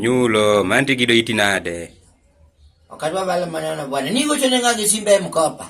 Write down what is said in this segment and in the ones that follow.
Nyulo, manti kido iti nade? Wakati wa bala maneno bwana, niko chonenga kisimbe mkopa.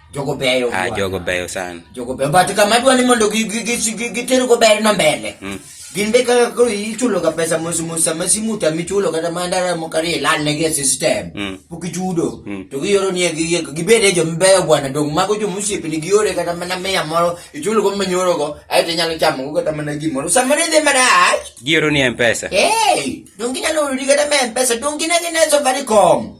jogo beyo ah, jogo beyo sana jogo beyo but kama dwa ni mondo giter go ber no mbele mm. gin be kaka koro ichulo ka pesa mos mos sama simuta michulo kata mandara mokari ilan ne gi system mm. pok ichudo mm. to giyoro ni gi gi gibede jo mbeyo bwana dong mago jo musipi ni giyore kata mana mia moro ichulo go manyoro go ayo te nyalo chamo go kata mana gimoro sama ne de marach giyoro ni mpesa hey dong ginyalo ri kata mpesa dong gina gina so bari kom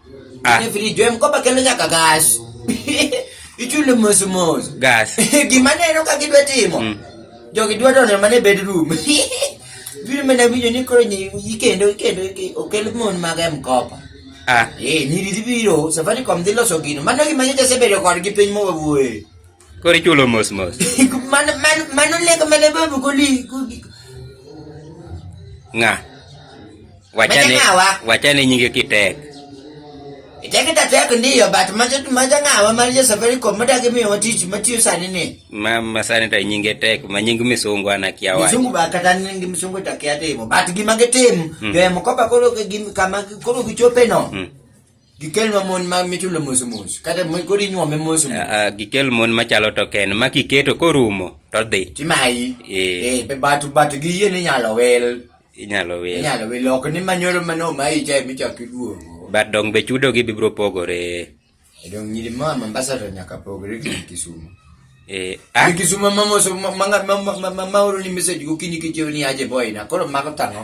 Ah. Ine video em kopa kelo nyaka gas. Ichule mos mos. Gas. Gima neno ka gidwa timo. Mm. Jogi dwa donjo mana e bedroom. Biro mana winjo ni koro nyi- ikendo ikendo ike- okel mon mag em kopa. Ah. Eh, nyiri dhi biro, Safaricom dhi loso gino. Mano gima nyocha asebedo kodgi piny mowawuoye. Koro ichulo mos mos. Mano mano mano lego mane babu goli. Nga. Wachane wachane nyinge kitek. Iteke ta tek ndiyo but majo majo ngawa mar jo Safaricom madagi miyo watich matiyo sani ni. Ma ma sani ta nyinge tek ma nying misungu ana kia wa. Misungu ba kata nying misungu ta kia timo but gima gitim. Mm. Yo mkopa koro gim kama koro gichope no. Mm. Gikel ma mon ma michulo mos mos. Kata mo koro inyuome mos mos. Ah, ah, gikel mon machalo token ma kiketo korumo to dhi Timayi. Eh. Eh, be but but gi yie ni inyalo wel. inyalo wil. Inyalo wel ok ni manyoro mano ma icha michak iduogo. But dong be chudo gi bibro pogore. E dong nyiri ma Mombasa to nyaka pogre gi Kisumu. Eh, ah, Gi Kisumu ma mos ma ma ma ma- ma ma oro ni message gokinyi kichiew ni aje boy na. Koro mago tang'o.